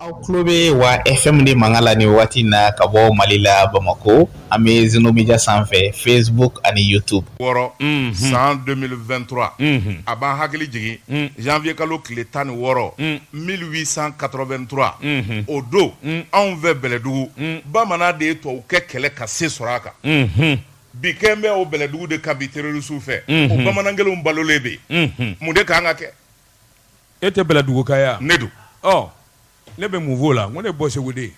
aw tulo bɛ wa fm de mankan la ni wagati na ka bɔ mali la bamakɔ an bɛ zeno media sanfɛ facebook ani youtube wɔɔrɔ san 2023 a b'an hakili jigin janvier kalo tile tan ni wɔɔrɔ 1883 o don anw fɛ bɛlɛdugu bamanan de ye tubabukɛ kɛlɛ ka se sɔrɔ a kan binkanni bɛ o bɛlɛdugu de kan bi terrorisiw fɛ o bamanan kelenw balolen bɛ yen mun de kan ka kɛ E tɛ bɛlɛduguka ye wa ne dun ne bɛ mun f'o la ko ne bɔ segu de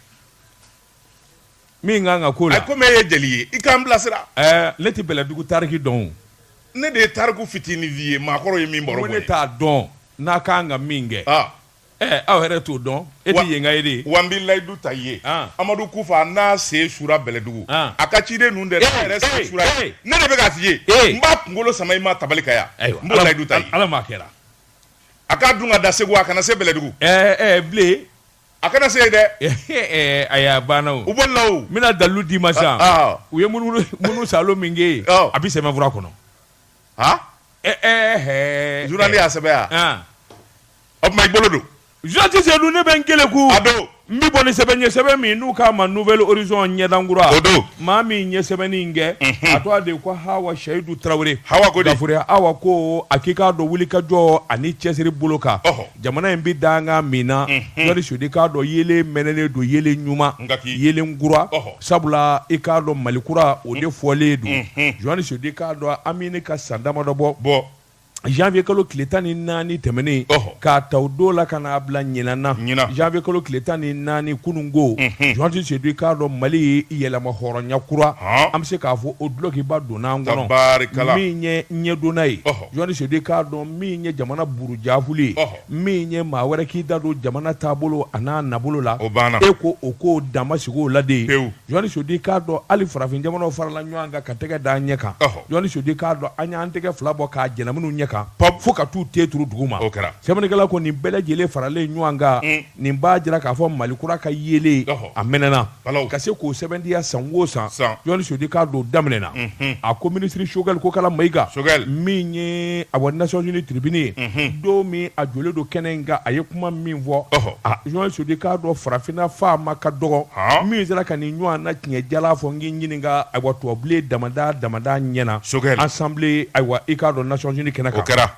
min ka kan ka k'o la comme e ye jeli ye i k'an bilasira ne tɛ bɛlɛdugu tariki dɔn ne de ye tariku fitinin f'i ye maakɔrɔ ye min ne t'a dɔn n'a ka kan ka min kɛ ɛ aw yɛrɛ t'o dɔn e tɛ yenka ye de wa n bɛ layidu ta i ye amadu kufa n'a sen sura bɛlɛdugu a ka ciden ninnu dɛ ne de b'a f'i ye n b'a kunkolo sama i ma tabali kan yan n b'o layidu ta i ye ala m'a kɛra A k'a dun ka dan segu a kana se bɛlɛdugu bilen a kana se dɛ ayi a banna o u bolila o n bɛna dalilu d'i ma sa u ye munumunusaalo min kɛ a bɛ sɛbɛnfura kɔnɔ a journal y'a sɛbɛn yan o tuma i bolo don Jɔnni sedu ne bɛ n kelen ko a don n bɛ bɔ ni sɛbɛn ye sɛbɛn min n'u k'a ma nouvel horizon ɲɛdankura o don maa min ye sɛbɛnni in kɛ a tɔgɔ de ko hawa suwayidu tarawele gafure hawa ko a k'i k'a dɔn wulikajɔ ani cɛsiri bolo kan jamana in bɛ dankan min na jɔnni sedu i k'a dɔn yelen mɛnɛnen don yelen ɲuman yelen kura sabula i k'a dɔn malikura o de fɔlen don jɔnni sedu i k'a dɔn an bɛ nin kan san damadɔ bɔ bɔ janvier kalo tile tan ni naani tɛmɛnen k'a ta o don la ka n'a bila ɲinan na janvier kalo tile tan ni naani kununko Jɔnni Sedu i k'a dɔn Mali yɛrɛmahɔrɔnya kura an bɛ se k'a fɔ o dulokiba donna an kɔnɔ tabaarikala min ye ɲɛdonna ye Jɔnni Sedu i k'a dɔn min ye jamana burujaafuli ye min ye maa wɛrɛ k'i da don jamana taabolo an'a nabolo la o banna e ko o ko dan ma sigi o la de ye pewu Jɔnni Sedu i k'a dɔn hali farafin jamanaw farala ɲɔgɔn kan ka tɛgɛ da an ɲɛ kan ɔhɔ Jɔnni Sedu i k'a dɔn an y'an tɛgɛ fila bɔ k'a jɛnɛ minnu ɲɛ kan pɔp fo ka t'u ten turu duguma o kɛra sɛbɛnnikɛla ko nin bɛɛ lajɛlen faralen ɲɔgɔn kan un Nin b'a jira k'a fɔ mali kura ka yelen a mɛnɛna ka se k'o sɛmɛntiya san wo san jɔnni sedu i k'a dɔn daminɛna a ko minisiri sogɛli kokala mayiga min ye a nations unies tiribini ye don min a jɔlen don kɛnɛ in kan a ye kuma min fɔ jɔnni sedu i k'a dɔn farafinna faama ka dɔgɔ min sera ka nin ɲɔgɔnna tiɲɛ jalan fɔ n k'i ɲininka ayiwa tubabubilen damadɔ ɲɛ na assemblée ayiwa i k'a dɔn nations unies kɛnɛ kan kɛra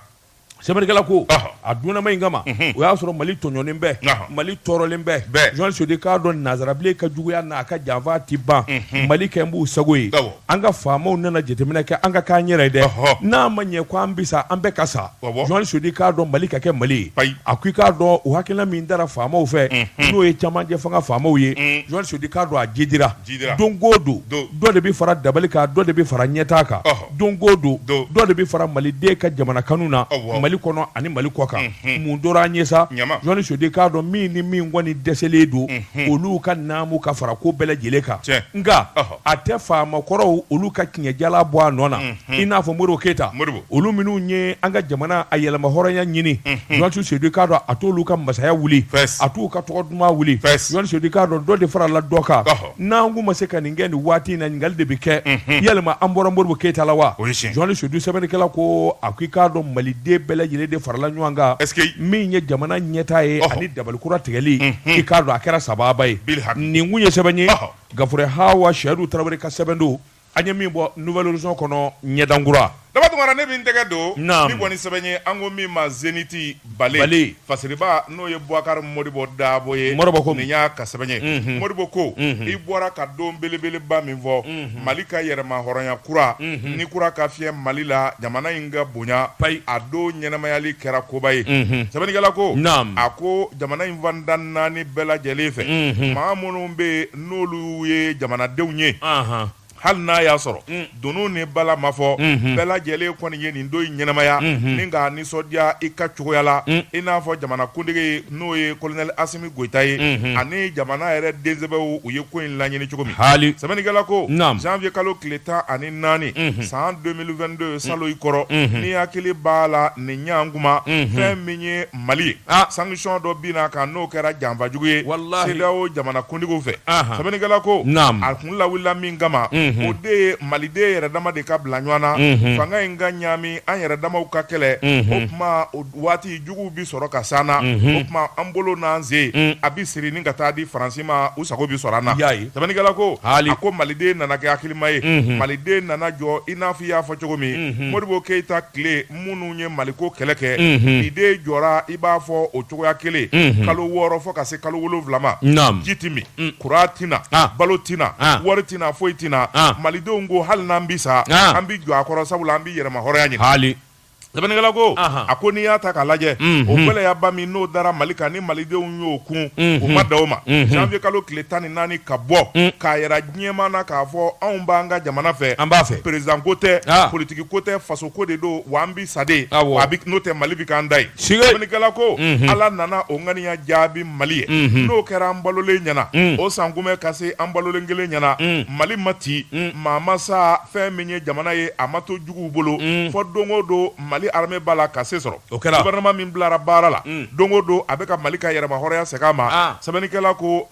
sɛbɛnnikɛla ko a dunanma in kama o y'a sɔrɔ mali tɔɲɔnen bɛ mali tɔɔrɔlen bɛ jɔn sedu k'a dɔn nazarabilen ka juguya n'a ka janfa tɛ ban mali kɛ n b'u sago ye an ka faamaw nana jateminɛ kɛ an ka k'an yɛrɛ ye dɛ n'a ma ɲɛ ko an bi sa an bɛɛ ka sa jɔn sedu k'a dɔn mali ka kɛ mali ye a ko i k'a dɔn o hakilina min dara faamaw fɛ n'o ye camancɛ fanga faamaw ye jɔn sedu k'a dɔn a jidira don ko don dɔ de bɛ fara dabali kan dɔ de bɛ fara ɲɛtaa kan don ko don dɔ de bɛ fara maliden ka jamana kanu na mali kɔnɔ ani mali kɔ kan mun tora an ye sa jɔn sedu k'a dɔn min ni min kɔni dɛsɛlen don olu ka naamu ka fara ko bɛɛ lajɛlen kan nka a tɛ faama kɔrɔw olu ka tiɲɛ jala bɔ a nɔ na i n'a fɔ modibo keyita olu minnu ye an ka jamana a yɛrɛmahɔrɔnya ɲini jɔn sedu k'a dɔn a t'olu ka masaya wuli a t'u ka tɔgɔ duman wuli jɔn sedu k'a dɔn dɔ de farala dɔ kan n'an kun ma se ka nin kɛ nin waati in na ɲininkali de bɛ kɛ yalima an bɔra modibo keyita la wa jɔn sedu sɛbɛnnikɛla ko a ko i k'a dɔn maliden bɛɛ lajɛlen de farala ɲɔgɔn kan min ye jamana ɲɛtaa ye ani dabalikura tigɛli i k'a dɔn a kɛra sababa ye nin kun ye sɛbɛn ye gafure hawa sɛdu tarawele ka sɛbɛn don An ye min bɔ nouvelle horizon kɔnɔ ɲɛdankura Daba Tounkara ne bɛ n tɛgɛ don min kɔni sɛbɛn ye an ko min ma zeniti bale fasiriba n'o ye Boubacar Modibo Dabo ye nin y'a ka sɛbɛn ye Modibo ko i bɔra ka don belebeleba min fɔ Mali ka yɛrɛmahɔrɔnya kura ni kura ka fiyɛ Mali la jamana in ka bonya payi a don ɲɛnamayali kɛra koba ye sɛbɛnnikɛla ko a ko jamana in fan tan ni naani bɛɛ lajɛlen fɛ maa minnu bɛ n'olu ye jamanadenw ye hali n'a y'a sɔrɔ mm. dunun ni bala ma fɔ mm-hmm. bɛɛ lajɛlen kɔni ye nin don in ɲɛnamaya mm-hmm. ni k'a nisɔndiya i ka cogoya la mm. i n'a fɔ jamana kuntigi n'o ye kolonɛli asimi goyita ye mm-hmm. ani jamana yɛrɛ densɛbɛw u ye ko in laɲini cogo min hali sɛbɛnnikɛla ko janvier kalo tile tan ani naani san 2022 salon i kɔrɔ n'i hakili b'a la nin ɲan kuma fɛn min ye Mali ye sanction dɔ binna a kan n'o kɛra janfajugu ye CEDEAO jamana kuntigiw fɛ sɛbɛnnikɛla ko a kun lawulila min kama o de ye maliden yɛrɛ dama de ka bila ɲɔgɔn na fanga in ka ɲaami an yɛrɛ damaw ka kɛlɛ o tuma waati juguw bɛ sɔrɔ ka s'an na o tuma an bolo n'an sen a bɛ siri ni ka taa di faransi ma u sago bɛ sɔrɔ an na sɛbɛnnikɛla ko a ko maliden nana kɛ hakilima ye maliden nana jɔ i n'a fɔ i y'a fɔ cogo min modibo keyita tile minnu ye maliko kɛlɛ kɛ maliden jɔra i b'a fɔ o cogoya kelen kalo wɔɔrɔ fɔ ka se kalo wolonwula ma ji tɛ min kuran tɛ na balo tɛ na wari tɛ na foyi tɛ na malidenw ko hali n'an bi sa an bɛ jɔ a kɔrɔ sabula an bɛ yɛrɛmahɔrɔnya ɲini hali sɛbɛnnikɛla ko a ko n'i y'a ta k'a lajɛ o gɛlɛyaba min n'o dara mali kan ni malidenw y'o kun o ma dan o ma janvier kalo tile tan ni naani ka bɔ k'a diɲɛma na k'a fɔ anw b'an ka jamana fɛ an b'a fɛ peresidan ko tɛ politigi ko tɛ faso ko de don wa an bi sa de n'o tɛ mali bɛ k'an da ye sɛbɛnnikɛla ko ala nana o ŋaniya jaabi mali ye n'o kɛra an balolen ɲɛna o sankunbɛn ka se an balolen kelen ɲɛna mali ma ci maa ma sa fɛn min ye jamana ye a ma to juguw bolo fɔ don o don mali arame b'a la ka se sɔrɔ guwɛrinama min bilara baara la don o don a bɛ ka mali ka yɛrɛmahɔrɔnya segin a ma sɛbɛnnikɛla ko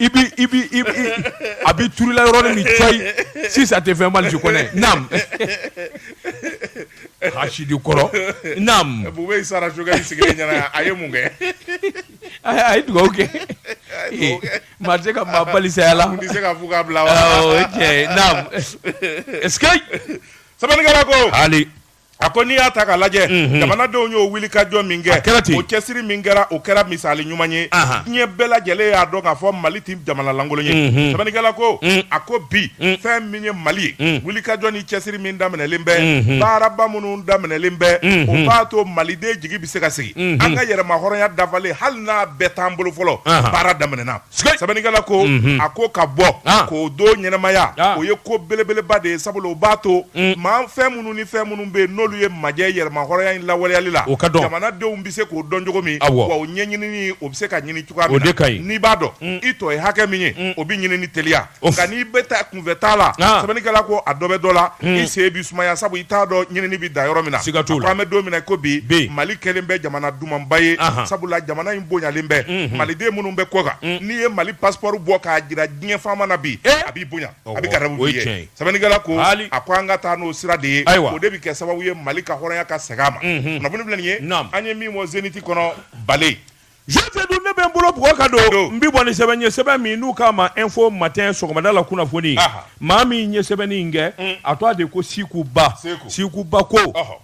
I a bɛ turula yɔrɔ ni cogo sisan tɛ fɛn mali kɔnɔɛ hsidi kɔrɔ sara sigilen ɲɛna a ye mun kɛ a ye dugawu kɛ maa tɛ ka maa bali saya la se ka fɔ ka bila cɛ sabali ko a ko n'i y'a ta k'a lajɛ mhm. jamanadenw y'o wulikajɔ min kɛ o cɛsiri min kɛra o kɛra misali ɲuman ye diɲɛ bɛɛ lajɛlen y'a dɔn k'a fɔ mali tɛ jamana lankolon ye mhm. sɛbɛnnikɛla ko mm. a ko bi mm. fɛn min ye mali ye mm. wulikajɔ ni cɛsiri min daminɛlen bɛ mhm. baaraba minnu daminɛlen bɛ o b'a to maliden jigi bɛ se ka sigi an ka yɛrɛmahɔrɔnya dafalen hali n'a bɛɛ t'an bolo fɔlɔ baara daminɛna sɛbɛnnikɛla ko a ko ka bɔ k'o don ɲɛnamaya o ye ko belebeleba de ye sabula o b'a to maa fɛn minnu ni fɛn minnu bɛ yen n'olu ye majɛ yɛrɛmahɔrɔnya in lawaleyali la jamanadenw bɛ se k'o dɔn cogo min wa o ɲɛɲinini o bɛ se ka ɲini cogoya min na n'i b'a dɔn i tɔ ye hakɛ min ye o bɛ ɲini ni teliya nka n'i bɛ taa kunfɛtaa la sɛbɛnnikɛla ko a dɔ bɛ dɔ la hmm. i sen bi sumaya sabu i t'a dɔn ɲinini bɛ da yɔrɔ min na a ko an bɛ don min na ko bi mali kɛlen bɛ jamana dumanba ye sabula jamana in bonyalen bɛ hmm, hmm. maliden minnu bɛ kɔkan n'i ye mali pasipɔri bɔ k'a jira diɲɛ faama na bi eh! a b'i bonya a bɛ garadabu i ye sɛbɛnnikɛla ko a ko an ka taa n'o sira de ye o de bɛ kɛ sababu ye mali ka hɔrɔnya ka segin a ma kunnafoni filɛ nin ye an ye min fɔ zeniti kɔnɔ bale Sofɛ dun ne bɛ n bolo bugɔ ka don n bɛ bɔ ni sɛbɛn ye sɛbɛn min n'u k'a ma Info Matin sɔgɔmada la kunnafoni maa min ye sɛbɛnni in kɛ a tɔgɔ de ko siku ba siku ba ko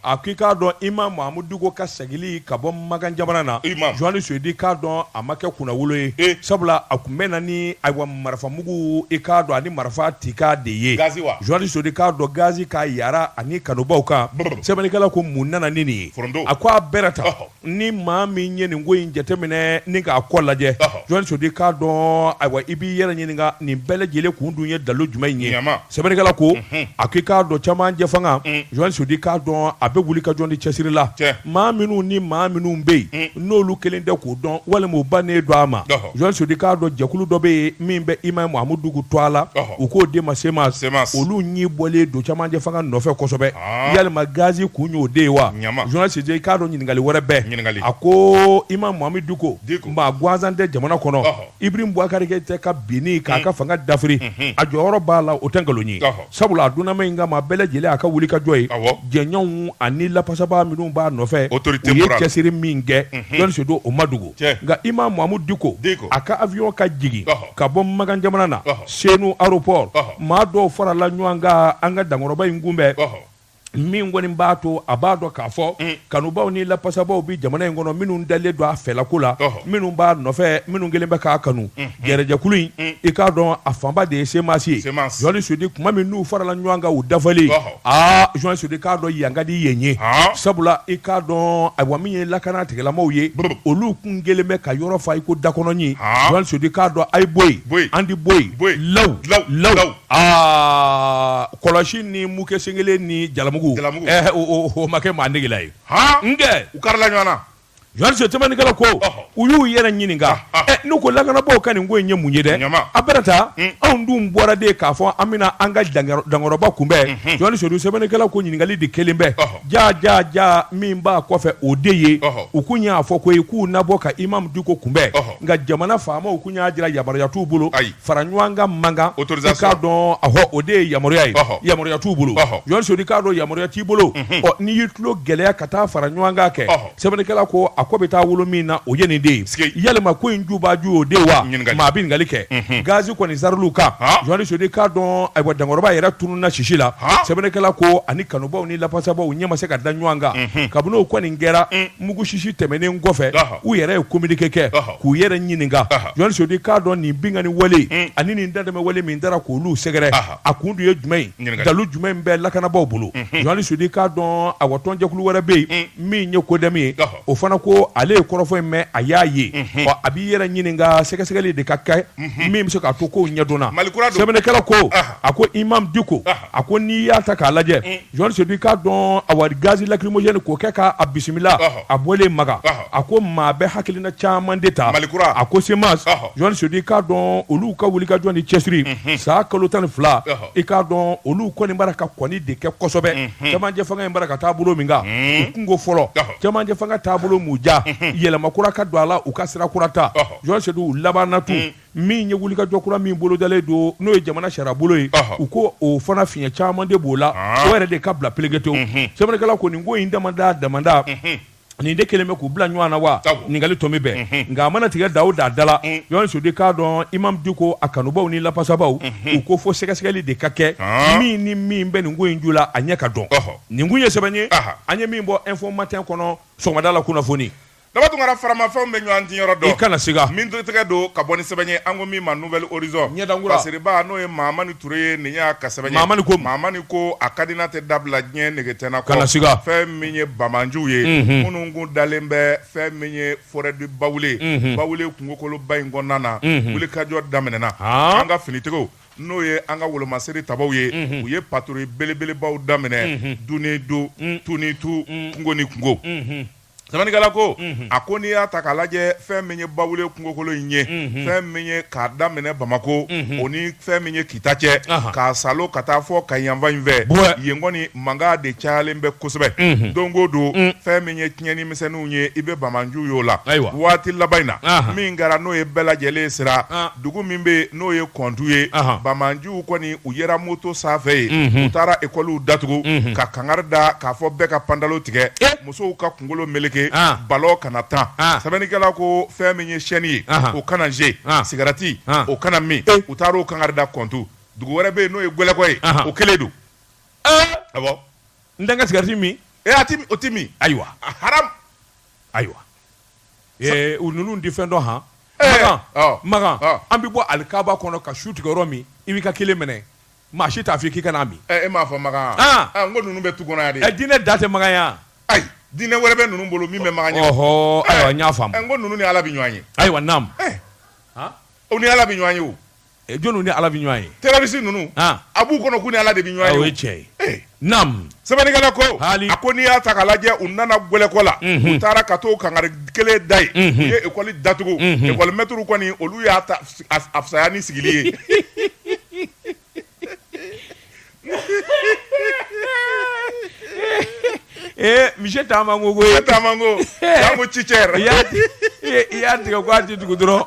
a ko i k'a dɔn imamu mahamudu diko ka segili ka bɔ makan jamana na jɔn ni sodi k'a dɔn a ma kɛ kunnawolo ye sabula a tun bɛ na ni ayiwa marifamugu i k'a dɔn ani marifa tikan de ye jɔnni sodi k'a dɔn gazi ka yaara ani kanubaw kan sɛbɛnnikɛla ko mun nana ni nin ye a ko a bɛɛ ta ni maa min ye nin ko in jateminɛ ni k'a kɔ lajɛ jɔn sodi k'a dɔn ayiwa i b'i yɛrɛ ɲininka nin bɛɛ lajɛlen kun dun ye dalilu jumɛn ye sɛbɛnnikɛla ko mhm. a ko i k'a dɔn cɛmancɛ fanga mm. jɔn sodi k'a dɔn a bɛ wulikajɔ ni cɛsiri la maa minnu ni maa minnu bɛ yen mm. n'olu kɛlen tɛ k'o dɔn walima u bannen don a ma jɔn sodi k'a dɔn jɛkulu dɔ bɛ yen min bɛ imamu mahamudu diko tɔgɔ la u k'o de ma CMAS olu ɲi bɔlen don cɛmancɛ fanga nɔfɛ kosɛbɛ yalima gazi kun y'o de ye wa Jɔni Sodi k'a dɔn ɲininkali wɛrɛ bɛɛ a ko Imam Mahamudu Diko maa gansan tɛ jamana kɔnɔ Ibrahim Bubakari Keyita ka binni k'a ka fanga dafiri a jɔyɔrɔ b'a la o tɛ nkalon ye sabula a dunanma in ka maa bɛɛ lajɛlen a ka wulikajɔ ye jɛɲɔgɔnw ani lapasaba minnu b'a nɔfɛ u ye cɛsiri min kɛ Jɔni Sodi o ma dogo nka Imam Mahamudu Diko a ka awiyɔn ka jigin ka bɔ Makan jamana na Senu aéroport maa dɔw farala ɲɔgɔn kan an ka dankɔrɔba in kunbɛn min kɔni b'a to a b'a dɔn k'a fɔ mm. kanubaw ni lapasabaw bɛ jamana in kɔnɔ minnu dalen don a fɛlako la minnu b'a nɔfɛ minnu kelen bɛ k'a kanu mm. gɛrɛjɛkulu in mm. i k'a dɔn a fanba de ye semasi ye Jɔni Sodi kuma min n'u farala ɲɔgɔn kan u dafalen aa Jɔni Sodi k'a dɔn yan ka di yen ye, han, sabula i k'a dɔn ayiwa min ye lakana tigilamaw ye, brrr, olu kun kɛlen bɛ ka yɔrɔ fa i ko dakɔnɔɲin, han, Jɔni Sodi k'a dɔn a ye bɔ yen, bɔ yen, an ti bɔ yen, bɔ yen, law, law, law, law, aa kɔlɔsi ni muke sen kelen ni jalamugu, jalamugu, ɛɛ o o o ma kɛ maa negela ye, han, nkɛ u karila ɲɔgɔn na sɛbɛnnikɛla ko u y'u yɛrɛ ɲininka n'u ko lakanabaw ka nin ko in ye mun ye dɛ a bɛ taa anw dun bɔra de k'a fɔ an bɛna an ka dankɔrɔba kunbɛn Jɔni Sodi sɛbɛnnikɛla ko ɲininkali de kɛlen bɛ ja ja ja min b'a kɔfɛ o de ye u kun y'a fɔ ko k'u na bɔ ka Imam Diko kunbɛn nka jamana faamaw kun y'a jira yamaruya t'u bolo ayi fara ɲɔgɔn kan man kan autorisation k'a dɔn ɔhɔ o de ye yamaruya ye yamaruya t'u bolo Jɔni Sodi k'a dɔn yamaruya t'i bolo ɔ n'i y'i tulo gɛlɛya ka taa fara ɲɔgɔn kan kɛ sɛbɛnnikɛla ko a ko bɛ taa wolo min na o ye nin de ye yalima ko in ju b'a ju y'o de ye wa maa bɛ ɲininkali kɛ gazi kɔni zarili kan Jɔni Sodi k'a dɔn ayiwa dankɔrɔba yɛrɛ tununna sisi la sɛbɛnnikɛla ko ani kanubaw ni lafasabaw ɲɛ ma se ka da ɲɔgɔn kan kabini o kɔni kɛra mugu sisi tɛmɛnen kɔfɛ u yɛrɛ ye kominike kɛ k'u yɛrɛ ɲininka Jɔni Sodi k'a dɔn nin binkanani wale hmm. ani nin dantɛmɛ wale min taara k'olu sɛgɛrɛ a kun dun ye jumɛn ye dalu jumɛn bɛ lakanabaw bolo hmm. Jɔni Sodi k'a dɔn awa tɔnjɛkulu wɛrɛ bɛ yen hmm. min ye kodɛmi ye o fana ko ale ye kɔrɔfɔ in mɛn a y'a ye ɔ a b'i yɛrɛ ɲininka sɛgɛsɛgɛli de ka kɛ min bɛ se k'a to kow ɲɛdɔn sɛbɛnnikɛla ko a ko Imam Diko a ko n'i y'a ta k'a lajɛ Jɔni Sodi k'a dɔn awa gazi lacrymogène k'o kɛ k'a bisimila a bɔlen makan a ko maa bɛ hakilina caman de ta malikura a ko semasi Jɔni Sodi k'a dɔn olu ka wulikajɔ ni cɛsiri san kalo tan ni fila i k'a dɔn olu kɔni b'a ra ka kɔni de kɛ kosɛbɛ cɛmancɛ fanga in b'a ra ka taa bolo min kan u kun ko fɔlɔ cɛmancɛ fanga taabolo m'u ja yɛlɛma kura ka don a la u ka sira kura ta Jɔni Sodi u labanna tun min ye wulikajɔ kura min bolodalen don n'o ye jamana sariya bolo ye u ko o fana fiɲɛ caman de b'o la o yɛrɛ de ka bila pelekete sɛbɛnnikɛla ko nin ko in damada damada nin de kelen bɛ k'u bila ɲɔgɔn na wa ɲininkali to min bɛn nka a mana tigɛ da da da la ɲɔgɔn sudi k'a dɔn Imam Diko a kanubaw ni lafasabaw u ko fo sɛgɛsɛgɛli de ka kɛ min ni min bɛ nin ko in ju la a ɲɛ ka dɔn nin kun ye sɛbɛn ye an ye min bɔ Info Matin kɔnɔ sɔgɔmada la kunnafoni Daba Tunkara faramafɛnw bɛ ɲɔgɔn di yɔrɔ dɔn kana siga min tɛgɛ don ka bɔ nin sɛbɛn ye an ko min ma Nouvel Horizon ɲɛdakura Fasiriba n'o ye Mahamani Toure ye nin y'a ka sɛbɛn ye Mahamani ko a ka di n na tɛ dabila diɲɛ nege tɛna kɔ fɛn min ye bamananjuw ye minnu kun dalen bɛ fɛn min ye forêt du Bawule Bawule kungokoloba in kɔnɔna na wulikajɔ daminɛna an ka finitigiw n'o ye an ka wolomasiri tabaw ye u ye patrouille belebelebaw daminɛ don o don tu ni tu kungo ni kungo Sɛbɛnnikɛla ko a ko n'i y'a ta k'a lajɛ fɛn min ye Bawule kungokolo in ye fɛn min ye k'a daminɛ bamakɔ o ni fɛn min ye kita cɛ k'a salo ka taa fɔ Kayi fan in fɛ yen kɔni mankan de cayalen bɛ kosɛbɛ don ko don fɛn min ye tiɲɛni misɛnninw ye i bɛ bamananju ye o la ayiwa waati laban in na min kɛra n'o ye bɛɛ lajɛlen sira dugu min bɛ n'o ye kɔntu ye bamananjuw kɔni u yera moto sanfɛ ye u taara ekɔliw datugu ka kankari da k'a fɔ bɛɛ ka pantalo tigɛ musow ka kunkolo meleke balon kana tan sɛbɛnnikɛla ko fɛn min ye chaîne ye o kana ze sigarati o kana min u taara o kankari da kɔntu dugu wɛrɛ bɛ yen n'o ye Gwɛlɛkɔ ye o kelen don a n tɛ n ka sigarati min e o tɛ min ayiwa haram ayiwa u ninnu tɛ fɛn dɔn han Makan an bɛ bɔ Alikaba kɔnɔ ka sun tigɛ yɔrɔ min i b'i ka kelen mɛnɛ Maa si t'a fɔ i k'i kana a min. Ɛ e m'a fɔ Makan wa? An! Aa n ko ninnu bɛ tu kɔnɔ yan de. Ɛ diinɛ dan tɛ Makan ye wa? Ayi, diinɛ wɛrɛ bɛ ninnu bolo min bɛ Makan ɲɛ. Ɔhɔɔ, ayiwa n y'a faamu. Ɛ n ko ninnu ni Ala bɛ ɲɔgɔn ye. Ayiwa naamu. Ɛ! Han! U ni Ala bɛ ɲɔgɔn ye o. Ɛ jɔniw ni Ala bɛ ɲɔgɔn ye? Terroriste ninnu. An! A b'u kɔnɔ k'u ni Ala de bɛ ɲɔgɔn ye o. Aa o ye tiɲɛ ye. Ee! Naamu sɛbɛnnikɛla ko a ko n'i y'a ta k'a lajɛ u nana Gwɛlɛkɔ la u taara ka t'o kankari kelen da ye u ye ekɔli datugu ekɔli mɛtiriw kɔni olu ye taa fisaya ni sigili ye ee misi taama ko ko taama ko ci cɛ i y'a tigɛ' tɛ dugu dɔrɔn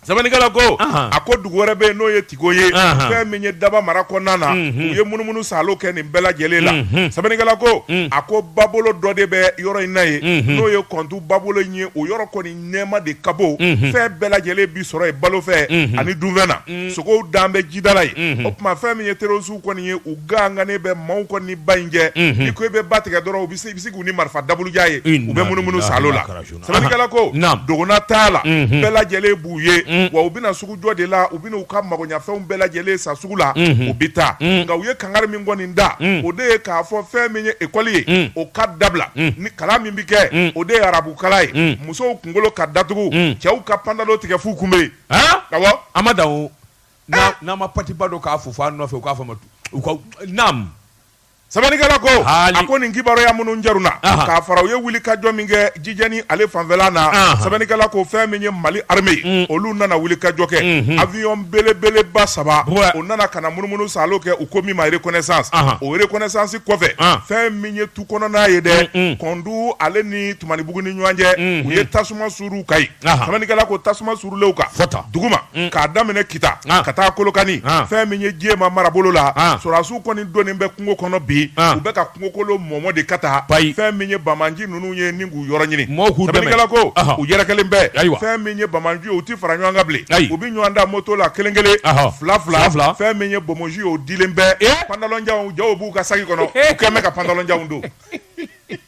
Sɛbɛnnikɛla ko a ko dugu wɛrɛ bɛ yen n'o ye Tigo ye fɛn min ye Daba mara kɔnɔna na u ye munumunu salo kɛ nin bɛɛ lajɛlen la sɛbɛnnikɛla ko a ko babolo dɔ de bɛ yɔrɔ in na yen n'o ye Kɔntu babolo in ye o yɔrɔ kɔni nɛɛma de ka bon fɛn bɛɛ lajɛlen bɛ sɔrɔ yen balo fɛ ani dunfɛn na sogow dan bɛ jidala yen o tuma fɛn min ye terrorisiw kɔni ye u gangannen bɛ maaw kɔni ni ba in cɛ n'i ko i bɛ ba tigɛ dɔrɔn u bɛ se k'u ni marifa daburuja ye u bɛ munumunu salo la. Sɛbɛnnikɛla ko dɔgɔnataala bɛɛ lajɛlen b'u ye wa u bɛ na sugujɔ de la u bɛ na u ka magoyafɛnw bɛɛ lajɛlen san sugu la u bɛ taa nka u ye kankari min kɔni da o de ye k'a fɔ fɛn min ye ekɔli ye o ka dabila ni kalan min bɛ kɛ o de ye arabukalan ye musow kunkolo ka datugu cɛw ka pantalon tigɛ fo kunbere a ma da n'a ma patiba don k'a fofo a nɔfɛ u k'a ma sɛbɛnnikɛla ko Haali. a ko nin kibaruya minnu jaru na Aha. k'a fara u ye wuli ka jɔ min kɛ jijɛni ale fanfɛla na Aha. sɛbɛnnikɛla ko fɛn min ye mali arme ye olu nana wuli ka jɔ kɛ avion belebeleba saba Ouais. o nana ka na munumunu salo kɛ u ko min ma reconnaissance Aha. o reconnaissance kɔfɛ Ah. fɛn min ye tu kɔnɔna ye dɛ kɔndu ale ni tumanibugu ni ɲɔgɔn cɛ u ye tasuma suuru u kan yen sɛbɛnnikɛla ko tasuma suurulen u kan duguma mm. k'a daminɛ kita ka taa kolokani fɛn min ye jɛma marabolo la sɔrɔdasiw kɔni dɔnnen bɛ kungo kɔnɔ bi u bɛ ka kungokolo mɔmɔ de ka taa fɛn min ye bamanji ninnu ye ni k'u yɔrɔ ɲini sɛbɛnnikɛla ko u yɛrɛkɛlen bɛ fɛn min ye bamanji u tɛ fara ɲɔgɔn kan bilen u bɛ ɲɔgɔn ta moto la kelen kelen fila fila fɛn min ye bomosi o dilen bɛ pantalonjanw jaw b'u ka saki kɔnɔ u kɛlen bɛ ka pantalonjanw don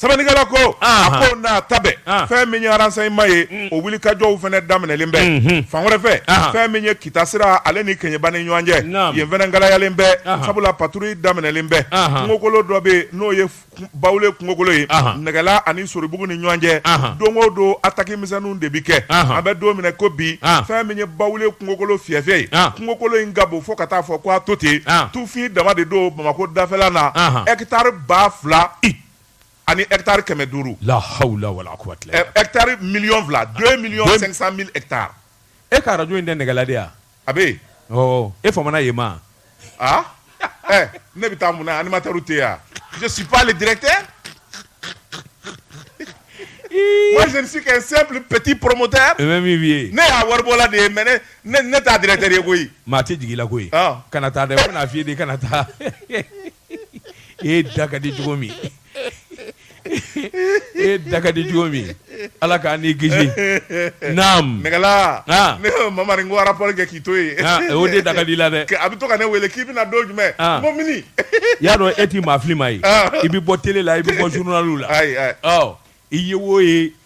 sɛbɛnnikɛla ko a ko n'a ta fɛn min ye renseignement ye mm. o wuli kajɔw fana daminɛlen bɛ mm-hmm. fan wɛrɛ fɛ fɛn min ye kita sira ale ni kɛɲɛba ni ɲɔgɔn cɛ yen fana kalayalen bɛ sabula patrouille daminɛlen bɛ kungokolo dɔ bɛ yen n'o ye bawule kungokolo ye nɛgɛla ani soribugu ni ɲɔgɔn cɛ don o don attaque misɛnnu de bɛ kɛ an bɛ don min na ko bi fɛn min ye bawule kungokolo fiɛfiɛ ye kungokolo in ka bon fo ka t'a fɔ ko a to ten tufin dama de don bamakɔ dafɛla na hectare ba fila ani hectare kɛmɛ duuru hectare million fila deux millions cinq cent mille hectares e ka arajo in tɛ nɛgɛla yan a bɛ e fa ye ma aa ɛ ne bɛ taa mun na animateurw tɛ yan je suis pas le directeur moi je ne suis qu'un simple petit promoteur et même vieux ne y'a waribɔla de ye mais ne ne ne t'a directeur ye koyi maa tɛ jigin i la koyi ɔ kana taa dɛ u bɛna f'i ye de kana taa e da ka di cogo min e da ka di cogo min ala kan'i kisi naamu nɛgɛla mamari ko a rapport kɛ k'i to yen o de da ka di la dɛ a bɛ to ka ne wele k'i bɛna don jumɛn mɔgɔ min y'a dɔn e t'i maafili ma ye i bɛ bɔ télé la i bɛ bɔ journal la i ye wo ye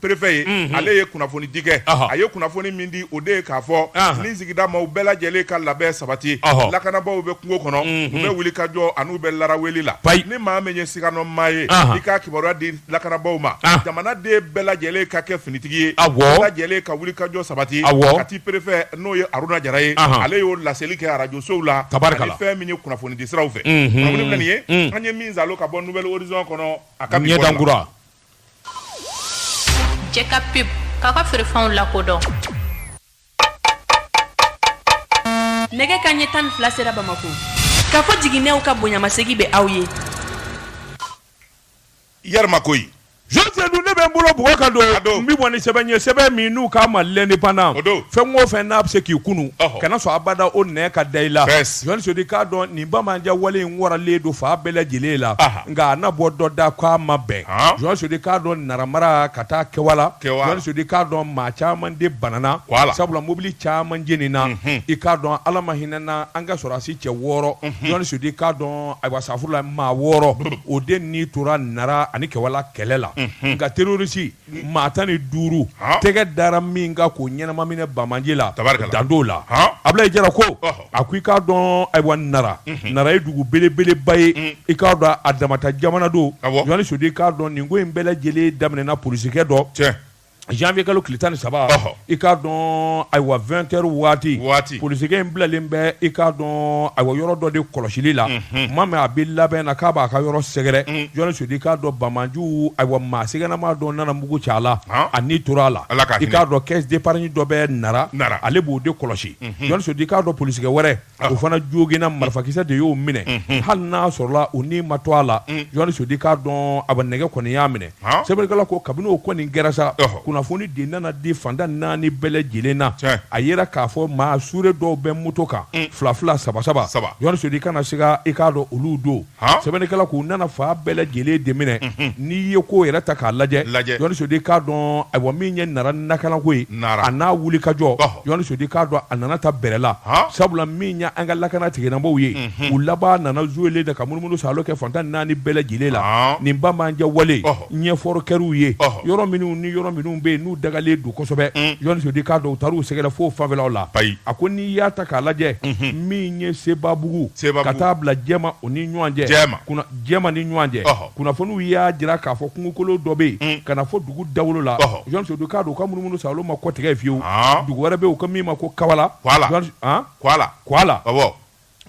préfet ye ale ye kunnafoni di kɛ a ye kunnafoni min di o de ye k'a fɔ ni sigidamaaw bɛɛ lajɛlen ka labɛn sabati lakanabaw bɛ kungo kɔnɔ u bɛ wuli ka jɔ ani u bɛ laara wele la ni maa min ye siganamaa ye i ka kibaruya di lakanabaw ma jamana den bɛɛ lajɛlen ka kɛ finitigi ye bɛɛ lajɛlen ka wuli kajɔ sabati kati préfet n'o ye aruna jara ye ale y'o laseli kɛ arajosow la ani fɛn min ye kunnafoni di siraw fɛ an ye min sɔrɔ ka bɔ nouvel horizon kɔnɔ a ka jɛ ka pub k'a ka feerefɛnw lakodɔn nɛgɛ kanɲɛ tan ni fila sera bamako k'a fɔ jiginnɛw ka bonyamasegi bɛ aw ye yarima koyi jɔni sodi ne bɛ n bolo bugɔ ka don n bɛ bɔ ni sɛbɛn ye sɛbɛn min n'u k'a ma l'indépendant fɛn o fɛn n'a bɛ se k'i kunu kana sɔn abada o nɛn ka da i la jɔni sodi i k'a dɔn nin banbaanci wale in waralen don fan bɛɛ lajɛlen la nka a na bɔ dɔ da ko a ma bɛn jɔni sodi i k'a dɔn nara mara ka taa kɛwala jɔni sodi i k'a dɔn maa caman de banana sabula mobili caman jenina i k'a dɔn ala ma hinɛna an ka sɔrɔdasi cɛ wɔɔrɔ jɔni sodi i k'a dɔn ayiwa safurula maa wɔɔrɔ o de ni tora nara ani kɛwala kɛlɛ la nka terorisi maa tan ni duuru tɛgɛ dara min kan k'o ɲɛnama minɛ banbaanci la danto la abilayi jara ko a ko i k'a dɔn ayiwa nara nara ye dugu belebeleba ye i k'a dɔn a dama ta jamana don jɔni sodi i k'a dɔn nin ko in bɛɛ lajɛlen daminɛna polisikɛ dɔ janvier kalo tile tan ni saba i k'a dɔn ayiwa 20 heures waati, waati, polisikɛ in bilalen bɛ i k'a dɔn ayiwa yɔrɔ dɔ de kɔlɔsili la, unhun, tuma min a bɛ labɛn na k'a b'a ka yɔrɔ sɛgɛrɛ, un, Jɔni Sodi i k'a dɔn banbaanciw ayiwa maa sigannama dɔ nana mugu ci a la, han, a ni tora a la, Ala ka hinɛ, i k'a dɔn caisse d'épargne dɔ bɛ Nara, Nara, ale b'o de kɔlɔsi, unhun, Jɔni Sodi i k'a dɔn polisikɛ wɛrɛ o fana joginna marifakisɛ de y'o minɛ hali n'a sɔrɔla o ni ma to a la jɔni sodi i k'a dɔn a bɛ nɛgɛ kɔni y'a minɛ sɛbɛnnikɛla ko kabini o kɔni kɛra sa kunnafoni de nana di fan tan naani bɛɛ lajɛlen na a yera k'a fɔ maa sure dɔw bɛ moto kan fila fila saba saba saba jɔni sodi i kana siga i k'a dɔn olu don sɛbɛnnikɛla k'u nana fan bɛɛ lajɛlen de minɛ n'i ye ko yɛrɛ ta k'a lajɛ jɔni sodi i k'a dɔn ayiwa min ye nara lakanako ye a n'a wulikajɔ jɔni sodi i k'a dɔn a nana ta bɛrɛ la sabula min ye an ka lakana tigilamaaw ye u laban nana zuo de ka munumunusaalo kɛ fan tan naani bɛɛ lajɛlen la nin banbaanci wale ɲɛfɔ kɛr'u ye yɔrɔ minnu ni yɔrɔ minnu bɛ yen n'u dagalen don kosɛbɛ jɔni sodi i k'a dɔn u taar'u sɛgɛrɛ fo fanfɛlaw la a ko n'i y'a ta k'a lajɛ min ye sebabugu ka taa bila jɛma o ni ɲɔgɔn cɛ jɛma ni ɲɔgɔn cɛ kunnafoniw y'a jira k'a fɔ kungokolo dɔ bɛ yen ka na fo dugu dawolo la jɔni sodi i k'a dɔn u ka munumunusaalo ma kɔtigɛ fiyewu dugu wɛrɛ bɛ u ko min ma ko kawala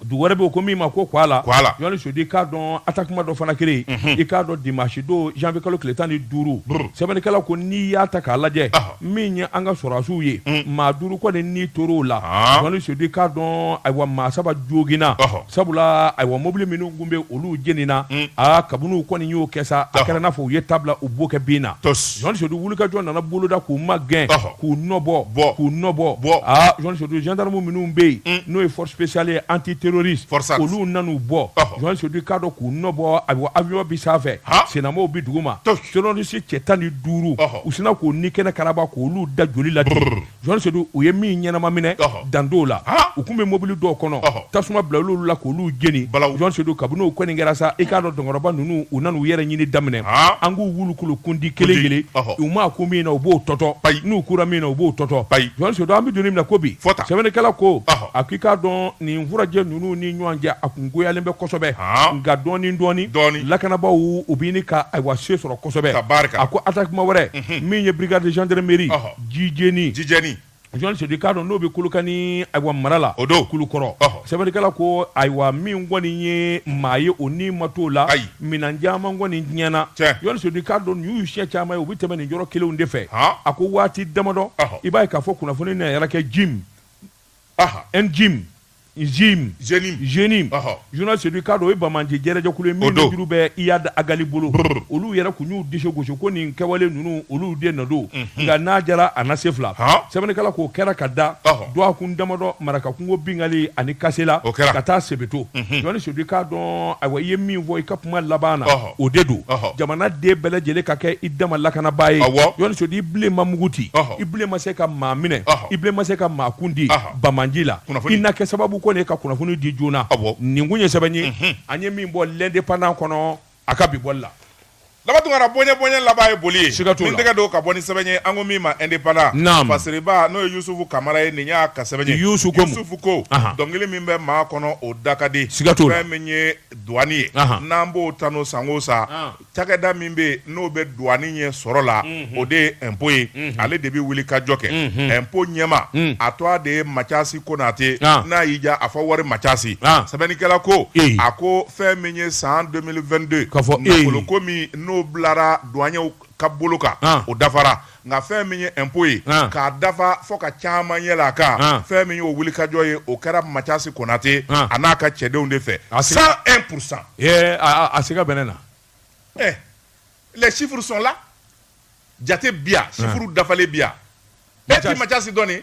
dugu wɛrɛ bɛ ko min ma ko kuala kuala jɔni sodi i k'a dɔn atakema dɔ fana kɛlen mhm. i k'a dɔn dimanche don janvier kalo tile tan ni duuru sɛbɛnnikɛla ko n'i y'a ta k'a lajɛ min ye an ka sɔrɔdasiw ye mm. maa duuru kɔni ni tor'o la ah. jɔni sodi i k'a dɔn ayiwa maa saba joginna sabula ayiwa mobili minnu tun bɛ olu jenina mm. aa kabini u kɔni y'o kɛ sa a kɛra n'a fɔ u ye ta bila u bokɛbin na jɔni sodi wulikajɔ nana boloda k'u magɛn k'u nɔbɔ bɔ k'u nɔbɔ bɔ aa jɔn sedu jandamu minnu bɛ yen n'o ye force spéciale antiterroriste olu nan'u bɔ jɔn sedu k'a dɔn k'u nɔbɔ aa avion bɛ sanfɛ sennamaw bɛ dugu ma terroriste cɛ tan ni duuru u sina k'u ni kɛnɛ karaba k'olu da joli la jɔn sedu u ye min ɲɛnama minɛ dan dɔw la u tun bɛ mobili dɔw kɔnɔ tasuma bila olu la k'olu jeni jɔn sedu kabini o kɔni kɛra sa i k'a dɔn dɔnkɔrɔba ninnu u nana u yɛrɛ ɲini daminɛ an k'u wulukulu kundi kelen kelen u ma ko min na u b'o tɔtɔ n'u kura min na u b'o tɔtɔ jɔn sedu an bɛ don min na ko bi sɛbɛnnikɛla ko a k'i k'a dɔn nin furajɛ ninnu ni ɲɔgɔn cɛ a tun goyalen bɛ kosɛbɛ nka dɔɔni dɔɔni lakanabaaw bɛ ɲini ka ayiwa se sɔrɔ kosɛbɛ a ko attaquement wɛrɛ min ye brigade gendarmerie jijeni Jɔn sedu k'a dɔn n'o bɛ kolokani ayiwa mara la o don kulukɔrɔ sɛbɛnnikɛla ko ayiwa min kɔni ye maa ye o ni ma t'o la minɛn caman kɔni tiɲɛna jɔn sedu k'a dɔn nin y'u siɲɛ caman ye u bɛ tɛmɛ nin yɔrɔ kelenw de fɛ a ko waati damadɔ i b'a ye k'a fɔ kunnafoni na yɛrɛ kɛ JNIM JNIM JNIM Ɔhɔ. jɔni sedu k'a dɔn o ye banbaanci jɛrɛjɛkulu ye min nunjuru bɛ iyad agali bolo Brr. olu yɛrɛ tun y'u disi gosi ko nin kɛwale ninnu olu de nɔ don nka n'a jara a na se fila Han. sɛbɛnnikɛla k'o kɛra ka da Ɔhɔ. dɔgɔkun damadɔ marakakungo binkanni ani kasela O kɛra. ka taa sebeto jɔni sedu k'a dɔn ayiwa i ye min fɔ i ka kuma laban na Ɔhɔ. O de don jamana den bɛɛ lajɛlen ka kɛ i dama lakanabaa ye sedu i bilen ma mugu ci i bilen ma se ka maa minɛ i bilen ma se ka maa kundi banbaanci la i na kɛ sababu kɔni ye ka kunnafoni di joona a nin kun ye sɛbɛn ye an ye min bɔ l'indépendant kɔnɔ a ka bi bɔli la laban tunkara bonya bonya laban ye boli ye i tɛgɛ don ka bɔ ni sɛbɛn ye an ko min ma indépendant fasiriba n'o ye yusufu kamara ye nin y'a ka sɛbɛn ye yusufu ko dɔnkili min bɛ maa kɔnɔ o da ka di fɛn min ye Douane ye. Anhan. N'an b'o ta n'o san o san, An. cakɛda min bɛ yen n'o bɛ douane ɲɛ sɔrɔ la, o de ye impôt ye. Ale de bɛ wulikajɔ kɛ. Impôt ɲɛmaa, a tɔgɔ de ye Mathiasi Konate. An. N'a y'i diya, a fɔ wari Mathiasi. An. Sɛbɛnnikɛla ko, Ee. a ko fɛn min ye san 2022 Ka fɔ ee. nafoloko min n'o bilara douaniers ka bolo kan, An. o dafara. nka fɛn min ye impôt ye k'a dafa fo ka caman yɛlɛ a kan fɛn min y'o wulikajɔ ye o kɛra macasi konate a n'a ka cɛdenw de fɛ a cent un pourcent siga bɛn ne na ɛ les chiffres sont là jate bɛ yan chiffre dafalen bɛ yan macasi dɔɔnin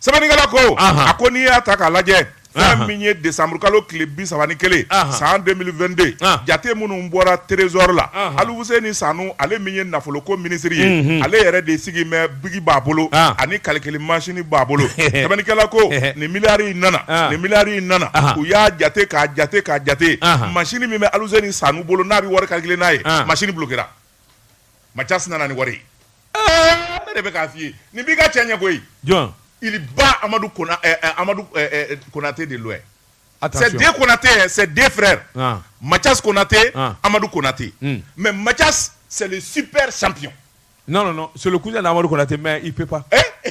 sɛbɛnnikɛla ko Ahan. a ko n'i y'a ta k'a lajɛ Ahan. fɛn min ye desanburukalo tile bi saba ni kelen Ahan. san 2022 Ahan. jate minnu bɔra trésor la Ahan. aluseni sanu ale min ye nafoloko minisiri ye ale yɛrɛ de sigi mɛ biki b'a bolo Ah. ani kalikili masini b'a bolo sɛbɛnnikɛla ko nin miliyari in nana Ah. nin miliyari in nana Ahan. u y'a jate k'a jate k'a jate Ahan. masini min bɛ aluseni sanu bolo n'a bɛ wari kalikile n'a ye Ah. masini bulokera Mathias nana ni wari ye. Ee! Ne de bɛ k'a f'i ye. Nin b'i ka cɛ ɲɛ koyi. Jɔn? Il bat Amadou Kona ɛɛ ɛɛ Amadou ɛɛ ɛɛ Konate de loin. Attention C'est deux Konate hein, c'est deux frères. An! Mathias Konate, an, Amadou Konate. Un! Mais Mathias, c'est le super champion. Non, non, non, c'est le cousin d'Amadou Konate mais il peut pas. Ee!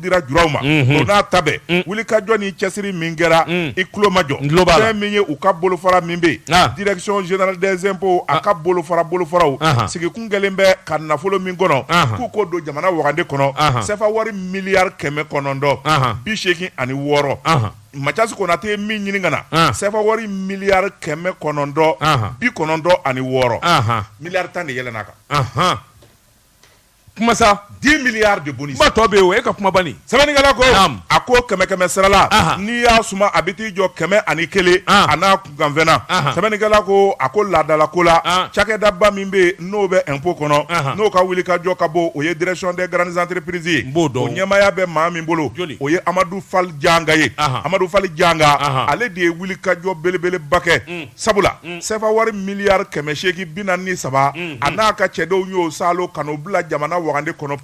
dira juraw ma o n'a ta bɛɛ wuli ka jɔ ni cɛsiri min kɛra i tulomajɔ N tulo b'a la. fɛn min ye u ka bolofara min bɛ Ah. yen direction générale des impôts a ka bolofara bolofaraw Ahan. sigikun kɛlen bɛ ka nafolo min kɔnɔ Ahan. k'u k'o don jamana wagande kɔnɔ Ahan. sɛfa wari miliyari kɛmɛ kɔnɔntɔn Ahan. bi seegin ani wɔɔrɔ Ahan. Mathias Konate ye min ɲini ka na Ah. sɛfa wari miliyari kɛmɛ kɔnɔntɔn Ahan. bi kɔnɔntɔn ani wɔɔrɔ Ahan. miliyari tan de yɛlɛnna a kan Ahan. kuma sa 10 milliards de bonus kuma tɔ bɛ yen o e ka kuma banni sɛbɛnnikɛla ko Naam. a ko kɛmɛ kɛmɛ sara la Aha. n'i y'a suma a bɛ t'i jɔ kɛmɛ ani kelen Ah. a n'a kunkanfɛn na Aha. sɛbɛnnikɛla ko a ko laadala ko la Ah. cakɛdaba min bɛ yen n'o bɛ impôt kɔnɔ Aha. n'o ka wuli ka jɔ ka bon o ye direction des grandes entreprises ye N b'o dɔn. o ɲɛmaaya bɛ maa min bolo Joli? o ye amadu fal janga ye Aha. amadu fal janga Aha. ale de ye wuli ka jɔ belebeleba kɛ sabula sɛfa wari miliyari kɛmɛ seegin bi naani ni saba a n'a ka cɛdenw y'o saalo ka n'o bila jamana wagande kɔnɔ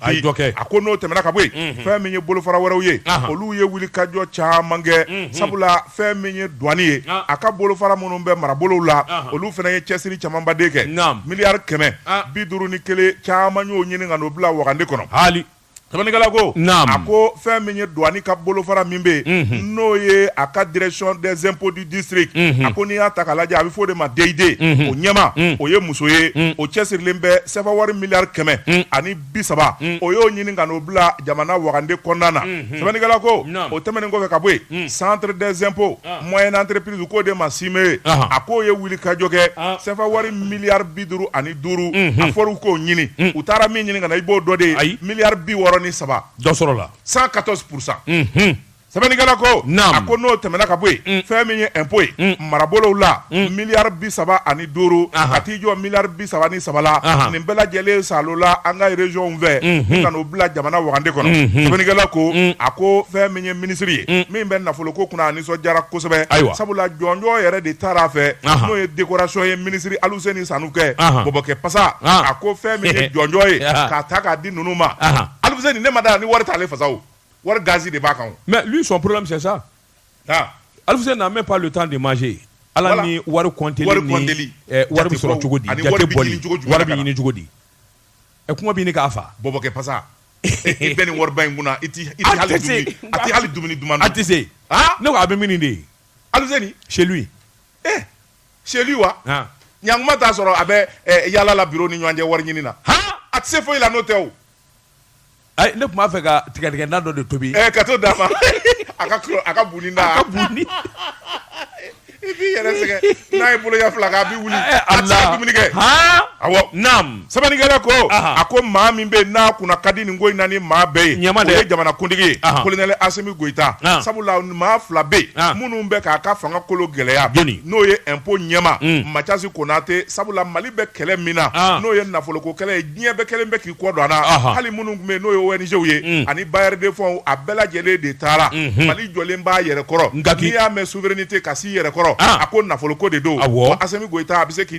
a ko n'o tɛmɛna ka bɔ yen fɛn min ye bolofara wɛrɛw ye olu ye wuli ka jɔ caman kɛ sabula fɛn min ye duwani ye a ka bolofara minnu bɛ marabolow la olu fana ye cɛsiri camanba de kɛ miliyari kɛmɛ bi duuru ni kelen caman y'o ɲini ka n'o bila wagande kɔnɔ sɛbɛnnikɛla ko a ko fɛn min ye duwani ka bolofara min bɛ yen n'o ye a ka direction des impôts du district a ko n'i y'a ta k'a lajɛ a bɛ fɔ o de ma DID o ɲɛmaa o ye muso ye o cɛsirilen bɛ sɛfa wari miliyari kɛmɛ ani bi saba o y'o ɲini ka n'o bila jamana wagande kɔnɔna na sɛbɛnnikɛla ko o tɛmɛnen kɔfɛ ka bɔ yen centre des impôts moyennes entreprises k'o de ma CIME ye a k'o ye wuli ka jɔ kɛ sɛfa wari miliyari bi duuru ani duuru a fɔra u k'o ɲini u taara min ɲini ka na i b'o dɔn de ye ayi miliyari bi wɔɔrɔ ni saba dɔ sɔrɔla cent quatorze pour cent sɛbɛnnikɛla ko a ko n'o tɛmɛna ka bɔ yen fɛn min ye ɛnpo ye marabolow la miliyari bi saba ani duuru ka t'i jɔ miliyari bi saba ni saba la nin bɛɛ lajɛlen saalola an ka irezɔnw fɛ ka n'o bila jamana wagande kɔnɔ sɛbɛnnikɛla ko a ko fɛn min ye minisiri ye min bɛ nafolo ko kunna a nisɔndiyara kosɛbɛ ayiwa sabula jɔnjɔn yɛrɛ de taara a fɛ n'o ye dekorasɔn ye minisiri Aluseni Sanu kɛ bɔbɔkɛ pasa a ko fɛn min ye jɔnjɔn ye k'a ta k'a di ninnu ma Aluseni ne ma da ni wari t'ale fasa o wari gazi de b'a kan mais lui son problème c'est ça Aluseni n'a même pas le temps de manger ale ni wari kɔnteli ni wari bɛ sɔrɔ cogo di wari wari bɛ ɲini cogo di ɛ kuma bɛ k'a faa bɔbɔkɛ pasa i bɛ nin wariba in kunna i tɛ hali dumuni duman dun a tɛ se ne ko a bɛ min de ye Aluseni chez lui chez lui wa ɲankuma t'a sɔrɔ a bɛ yaala la biro ni ɲɔgɔn cɛ wari ɲini na a tɛ se foyi la n'o tɛ o ne tun b'a fɛ ka tigadɛgɛna dɔ de tobi ka t'o d'a ma a ka buni na i b'i yɛrɛ sɛgɛn n'a ye bolo ɲɛ fila kɛ a bɛ wuli a tɛ se ka dumuni kɛ sɛbɛnnikɛla ko a ko maa min bɛ n'a kunna ka di nin ko in na ni maa bɛɛ ye o ye jamanakuntigi kolonɛli asimi goyita sabula maa fila bɛ minnu bɛ k'a ka fanga kolo gɛlɛya n'o ye impôt ɲɛmaa macasi konate sabula mali bɛ kɛlɛ min na n'o ye nafoloko kɛlɛ ye diɲɛ bɛɛ kelen bɛ k'i kɔ don a na hali minnu tun bɛ n'o ye ONGw ye ani bailleurs de fonds a bɛɛ lajɛlen de taara mali jɔlen b'a yɛrɛ kɔrɔ n'i y'a mɛn souveraineté ka s'i yɛrɛ kɔrɔ a ko nafoloko de don asimi a bɛ se k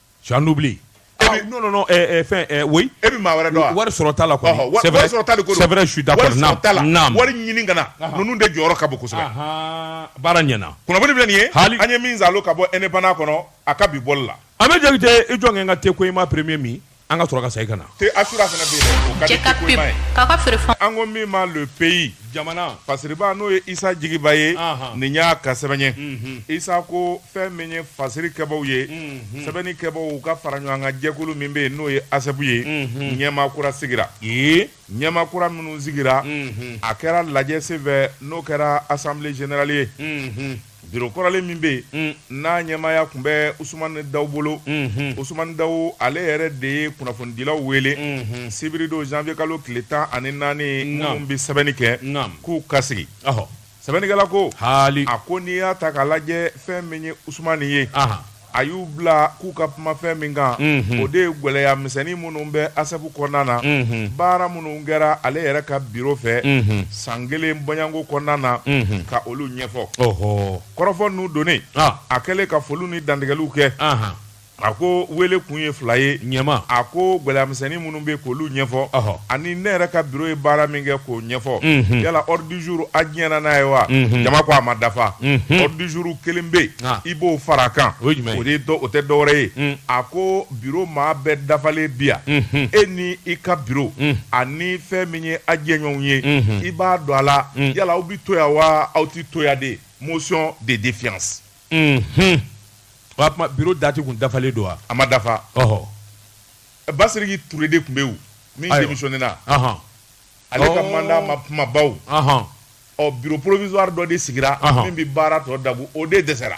Tu as l'oubli ah, non, non, non, eh, eh, fin, eh, oui. Et puis, ma wari dɔn. Wari sɔrɔ t'a la quoi. C'est vrai. C'est vrai, je suis d'accord. Wari sɔrɔ t'a la. Naam. Wari ɲini ka na. Ninnu de jɔyɔrɔ ka bon kosɛbɛ. Baara ɲɛna. Kunnafoni filɛ nin ye. Hali. An ye min zalo ka bɔ Indépendant kɔnɔ, a ka bi bɔli la. An bɛ jaabi tɛ i jɔ kɛ n ka te ko i ma premier min. An ka sɔrɔ ka segin ka na. Te asura fana bɛ yen. Cɛ ka pep. K'a ka feere fɔ. An ko min ma Le Pays. jamana fasiriba n'o ye isa jigiba ye nin y'a ka sɛbɛn ye isa ko fɛn min ye fasiri kɛbaw ye sɛbɛnni kɛbaw u ka faraɲɔgɔnkan jɛkulu min bɛ yen n'o ye ASSEP ye ɲɛmaa kura sigira ɲɛmaa kura minnu sigira a kɛra lajɛ senfɛ n'o kɛra assemblée générale ye Biro kɔrɔlen min bɛ yen n'a ɲɛmaaya tun bɛ Usumani Dawu bolo Usumani Dawu ale yɛrɛ de ye kunnafonidilaw wele sibiri don janvier kalo tile tan ani naani minnu bɛ sɛbɛnni kɛ k'u ka sigi sɛbɛnnikɛla ko a ko n'i y'a ta k'a lajɛ fɛn min ye Usumani ye a y'u bila k'u ka kuma fɛn min kan o de ye gɛlɛya misɛnnin minnu bɛ ASSEP kɔnɔna na baara minnu kɛra ale yɛrɛ ka biro fɛ san kelen bɔɲɔgɔnko kɔnɔna na ka olu ɲɛfɔ kɔrɔfɔ ninnu donnen a kɛlen ka foliw ni dantigɛliw kɛ a ko wele kun ye fila ye ɲɛma a ko gɛlɛya misɛnnin minnu bɛ k'olu ɲɛfɔ ani ne yɛrɛ ka biro ye baara min kɛ k'o ɲɛfɔ yala ordre du jour a diɲɛna n'a ye wa jama ko a ma dafa ordre du jour kelen bɛ yen i b'o fara a kan o tɛ dɔwɛrɛ ye a ko biro maa bɛɛ dafalen bi yan e ni i ka biro ani fɛn min ye a jɛɲɔgɔnw ye i b'a don a la yala aw bɛ to yan wa aw tɛ to yan de motion de défiance biro dati kun dafalen don wa a ma dafa Basiriki Ture de tun bɛ yen min démissionné na ale ka mandat ma kun ma ban ɔ bureau provisoire dɔ de sigira min bɛ baara tɔ dabu o de dɛsɛra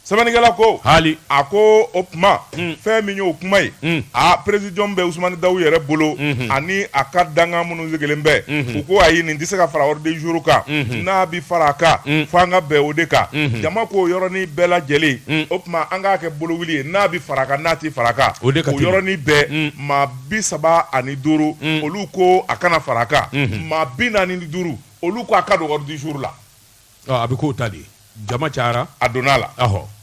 sɛbɛnnikɛla ko haali a ko o tuma fɛn min y'o kuma ye aa présidium bɛ Usumani Dawu yɛrɛ bolo ani a ka dankan minnu sigilen bɛ mhm. u ko ayi nin tɛ se ka fara ordre du jour kan mhm. n'a bɛ fara a kan mhm. fo an ka bɛn o de kan jama ko yɔrɔnin bɛɛ lajɛlen o tuma an k'a kɛ bolo wuli ye n'a bɛ fara a kan n'a tɛ fara a kan o yɔrɔnin bɛɛ maa bi saba ani duuru olu ko a kana fara a kan maa bi naani ni duuru olu ko a ka don ordre du jour la A bɛ k'o ta di jama cayara a donna la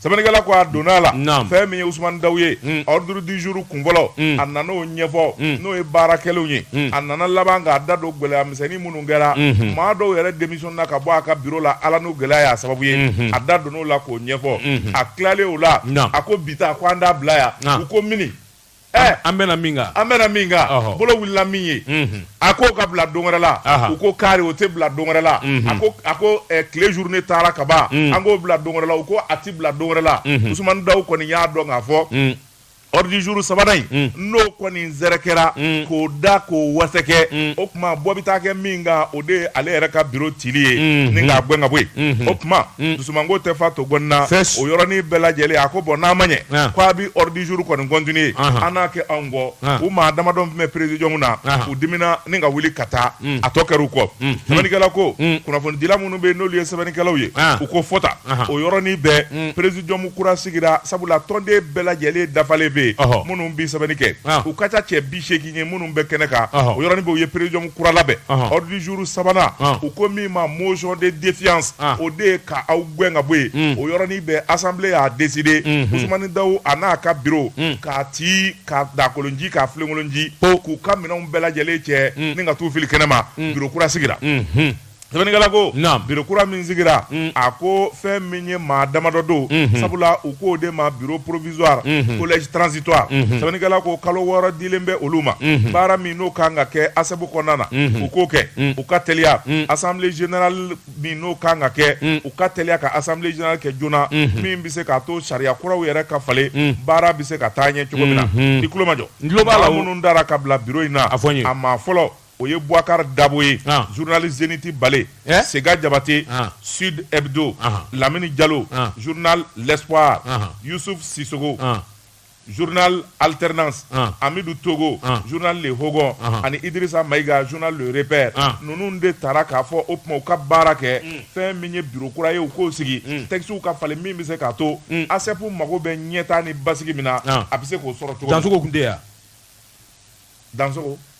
sɛbɛnnikɛla ko a donna a la fɛn min ye Usumani Daw ye ordre du jour kun fɔlɔ a nana o ɲɛfɔ n'o ye baara kɛlenw ye a nana laban k'a da don gɛlɛya misɛnnin minnu kɛra maa dɔw yɛrɛ démission na ka bɔ a ka bureau la ala ni gɛlɛya y'a sababu ye a da donn'o la k'o ɲɛfɔ a tilalen o la a ko bi ta ko an t'a bila yan u ko mini Ɛɛ an bɛnna min kan an bɛnna min kan ɔhɔ. bolo wulila min ye Unhun. a ko ka bila don wɛrɛ la Aha. u ko kari o tɛ bila don wɛrɛ la Mhm. a ko a ko eh, tile journée taara ka ban Mm. an k'o bila don wɛrɛ la u ko a tɛ bila don wɛrɛ la Mhm. usumani daw kɔni y'a dɔn k'a fɔ Mm. ordre du jour sabanan in Mm. n'o kɔni zɛrɛkɛra Mm. k'o da k'o wasɛkɛ Mm. o tuma bɔ bɛ taa kɛ min kan o de ye ale yɛrɛ ka biro cili ye Mhm. ni k'a gɛn ka bɔ yen Mhm. o tuma Mm. sumango tɛ fa to gɔnin na o yɔrɔnin bɛɛ lajɛlen a ko bɔn n'a ma ɲɛ k' a bɛ ordre du jour kɔni continuer an n'a kɛ anw kɔ u maa damadɔ tun bɛ présidium na u dimina ni ka wuli ka taa a tɔ kɛra u kɔ sɛbɛnnikɛla ko kunnafonidila minnu bɛ yen n'olu ye sɛbɛnnikɛlaw ye u ko fɔta o yɔrɔnin bɛɛ présidium kura sigira sabula tɔnden bɛɛ lajɛlen dafalen bɛ yen minnu bɛ sɛbɛnni kɛ u ka ca cɛ bi seegin ye minnu bɛ kɛnɛ kan o yɔrɔnin bɛɛ u ye présidium kura labɛn ordre du jour sabanan u ko min ma motion de défiance o de ye ka aw gɛn ka bɔ yen o yɔrɔnin bɛɛ assemblée y'a décidé k'Usumani Daw a n'a ka bi k'a ti k'a dakolon ci k'a filenkolon ci k'u ka minɛnw bɛɛ lajɛlen cɛ ni ka t'u fili kɛnɛ ma bureau kura sigira Sɛbɛnnikɛla ko, naamu, bureau kura min sigira, unhun, a ko fɛn min ye maa damadɔ don, unhun, sabula u k'o de ma bureau provisoire, unhun, collège transitoire, unhun, sɛbɛnnikɛla ko kalo wɔɔrɔ dilen bɛ olu ma, unhun, baara min n'o ka kan ka kɛ ASSEP kɔnɔna na, unhun, u k'o kɛ, unhun, u ka teliya, unhun, assemblée générale min n'o ka kan ka kɛ, unhun, u ka teliya ka assemblée générale kɛ joona, unhun, min bɛ se k'a to sariya kuraw yɛrɛ ka falen, unhun, baara bɛ se ka taa ɲɛ cogo min na, unhun, i tulo majɔ, n tulo b'a la, maa minnu tara ka bila bureau in na, a fɔ n ye, a maa fɔlɔ o ye buwakari dabo ye journal Zénith Balé sega jabate Sud Hebdo lamini jalo journal L'Espoir yusuf sisogo journal Alternance amidu togo journal Le Hogon ani idrisa mayiga journal Le Repère ninnu de tara k'a fɔ o tuma u ka baara kɛ fɛn min ye bureau kura ye u k'o sigi tɛkisiw ka falen min bɛ se k'a to ASSEP mago bɛ ɲɛtaa ni basigi min na a bɛ se k'o sɔrɔ cogo min Dansogo tun tɛ yan dan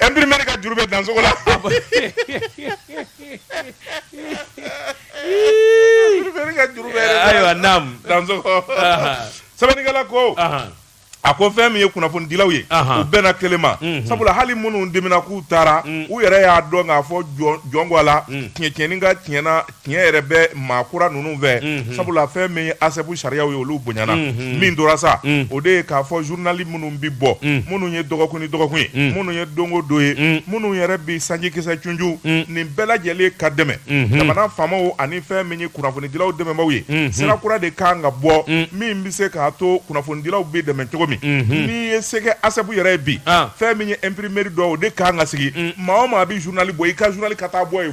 Imprimerie ka juru bɛ Dansogo la Imprimerie ka juru bɛ Ayiwa naamu Dansogo sɛbɛnnikɛla ko a ko fɛn min ye kunnafonidilaw ye u bɛnna kelen ma sabula hali minnu dimina k'u taara u yɛrɛ y'a dɔn k'a fɔ jɔn ko Ala tiɲɛ tiɲɛni ka tiɲɛna tiɲɛ yɛrɛ bɛ maa kura ninnu fɛ mhm. sabula fɛn min ye ASSEP sariyaw ye olu bonyana mhm. min tora sa mhm. o de ye k'a fɔ zurunali minnu bɛ bɔ minnu ye dɔgɔkun ni dɔgɔkun ye minnu ye don o don ye minnu yɛrɛ bɛ sanjikisɛ cunju nin bɛɛ lajɛlen ka dɛmɛ jamana faamaw ani fɛn min ye kunnafonidilaw dɛmɛbaaw ye sira kura de kan ka bɔ min bɛ se k'a to kunnafonidilaw bɛ dɛmɛ cogo min n'i ye sɛgɛ ASSEP yɛrɛ ye bi ah. fɛn min ye imprimeri dɔ o de kan ka sigi maa o maa bɛ zurunali bɔ i ka zurunali ka taa bɔ yen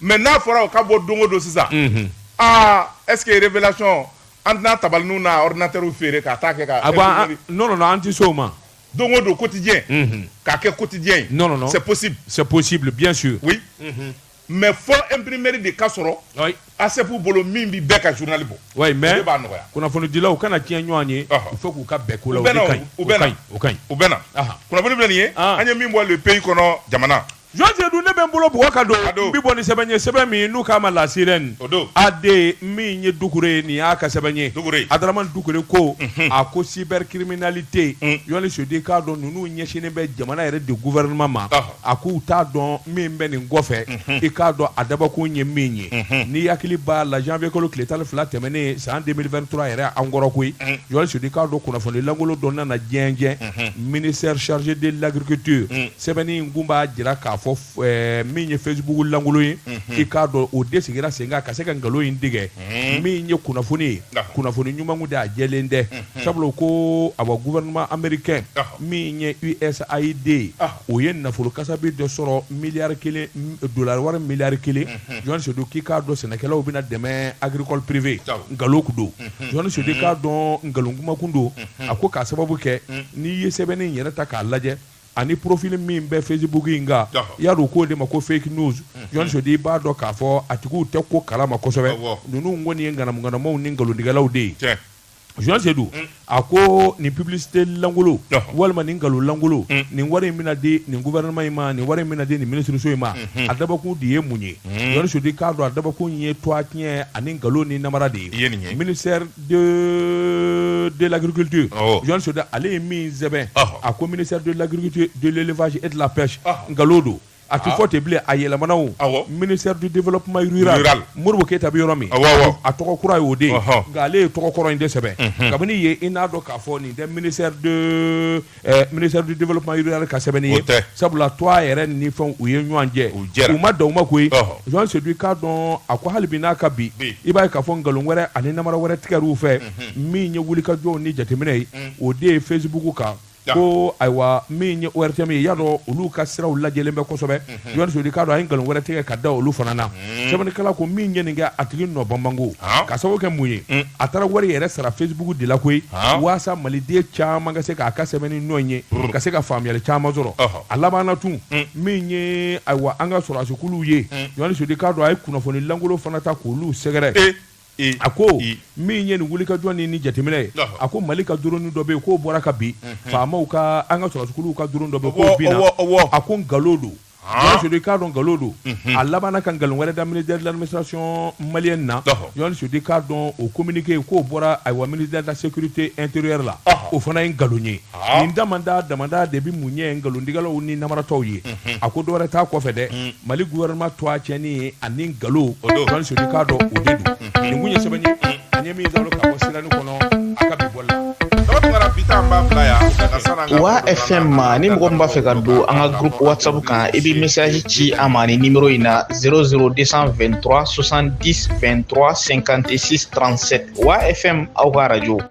mais n'a fɔra o ka bɔ don o don sisan est-ce que Révélation an tɛna tabali ninnu n'a ordinateurw feere ka taa kɛ an tɛ se o ma don o don quotidien k'a kɛ quotidien ye c'est possible bien sûr mais fo imprimerie de ka sɔrɔ ASSEP bolo min bɛ bɛɛ ka journal bɔ mais b'a nɔgɔya kunnafonidilaw u kana tiɲɛ ɲɔgɔn ye il faut k'u ka bɛn ko u bɛ u bɛ kunnafoni bɛ nin ye an ye min bɔ Le Pays kɔnɔ jamana Jɔn Sedu ne bɛ n bolo bugɔ ka don n bɛ bɔ ni sɛbɛn ye sɛbɛn min n'u k'a ma La Sirène AD min ye Dukure ye nin y'a ka sɛbɛn ye Adaramani Dukure ko a ko cybercriminalité Jɔn Sedu i k'a dɔn ninnu ɲɛsinnen bɛ jamana yɛrɛ de gouvernement ma a k'u t'a dɔn min bɛ nin kɔfɛ i k'a dɔn a dabɔkun ye min ye n'i hakili b'a la janvier kalo tile tan ni fila tɛmɛnen san deux mille vingt-trois yɛrɛ an kɔrɔ koyi Jɔn Sedu i k'a dɔn kunnafoni lankolon dɔ nana diɲɛ ministère chargé de l'agriculture sɛbɛnni in kun b'a jira k'a fɔ ɛɛ min ye Facebook lankolon ye i k'a dɔn o de sigira sen kan ka se ka nkalon in tigɛ min ye kunnafoni ye D'accord. kunnafoni ɲuman kun tɛ a jɛlen tɛ sabula u ko awa gouvernement américain D'accord. min ye USAID ye Ah. o ye nafolo kasabi dɔ sɔrɔ miliyari kelen m- dolari wari miliyari kelen jɔn sedu k'i k'a dɔn sɛnɛkɛlaw bɛna dɛmɛ agricole privé Awɔ. nkalon kun don jɔn sedu k'a dɔn nkalon kuma kun don a ko k'a sababu kɛ n'i ye sɛbɛnni in yɛrɛ ta k'a lajɛ ani profil min bɛ Facebook in kan y'a dɔn k'o de ma ko fake news Jɔn Sedu i b'a dɔn k'a fɔ a tigiw tɛ ko kala ma kosɛbɛ ninnu kɔni ye ŋanamaŋanamaw ni nkalontigɛlaw de ye Jɔn Sedu a ko nin publicité lankolon walima nin nkalon lankolon nin wari in bɛna di nin gouvernement in ma nin wari in bɛna di nin minisiriso in ma a dabɔkun de ye mun ye Jɔn Sedu k'a dɔn a dabɔkun ye tɔgɔtiɲɛ ani nkalon ni namara de ye mini de de l'agriculture awɔ Jɔn Sedu ale ye min sɛbɛn Ɔhɔ. a ko ministère de l'agriculture de l'élevage et de la pêche Ɔhɔ. nkalon don a tɛ Ah. fɔ ten bilen a yɛlɛmana o Awɔ. ministère du développement rural Rural. Modibo Keyita bɛ yɔrɔ min Awɔ, awɔ. a tɔgɔ kura ye o de ye Ɔhɔ. nka ale ye tɔgɔ kɔrɔ in de sɛbɛn kabini yen i n'a dɔn k'a fɔ nin tɛ ministère de Ministère du développement rural ka sɛbɛnni ye sabula to a yɛrɛ ni fɛn u ye ɲɔgɔn jɛ u ma dan o ma koyi Jean Seydou k'a dɔn a ko hali bi n'a ka bi i b'a ye k'a fɔ nkalon wɛrɛ ani namara wɛrɛ tigɛr'u fɛ min ye wulikajɔ ni jateminɛ ye o de ye Facebook kan ko ayiwa min ye ORTM ye y'a dɔn olu ka siraw lajɛlen bɛ kosɛbɛ Seydou k'a dɔn a ye nkalon wɛrɛ tigɛ ka da olu fana na sɛbɛnnikɛla ko min ye nin kɛ a tigi nɔ banbanko ka sababu kɛ mun ye a taara wari yɛrɛ sara Facebook de la koyi walasa maliden caman ka se k'a ka sɛbɛnni nɔ ye ka se ka faamuyali caman sɔrɔ a labanna tun min ye ayiwa an ka sɔrɔdasikulu ye Jean Seydou k'a dɔn a ye kunnafoni lankolon fana ta k'olu sɛgɛrɛ a ko min ye nin wuli ka jɔn ni ni jateminɛ ye a ko mali ka du dɔ bɛ yen k'o bɔra ka bin faama ka an ka sɔrɔsiw ka du dɔ bɛ a ko nkalonlo don sudi ka dɔn nkalonlo don a laban ka nkalon wɛrɛ daminisacɔn mali na ɲɔgɔn sudi k'a dɔn o kominike k'o bɔra a wa mini dala seurte nte la o fana ye nkalon ye nin da da da de bɛ mun ɲɛ nkalontigɛlaw ni naratɔ ye a ko dɔwɛrɛ taa kɔfɛ dɛ mali wɛrɛma to a cɛin ye ani nkalon o don kan k'a dɔn o de don nin ye sɛbɛn an ye min ka bɔ sira kɔnɔ a ka bɔ la wa fɛn ma ni mɔgɔ b'a fɛ ka don an ka gp wasabu kan i bɛ misasi ci a ma ni ni in na 00223 sɔsan2 2 kante sisan transsɛ wa fɛn aw ka araj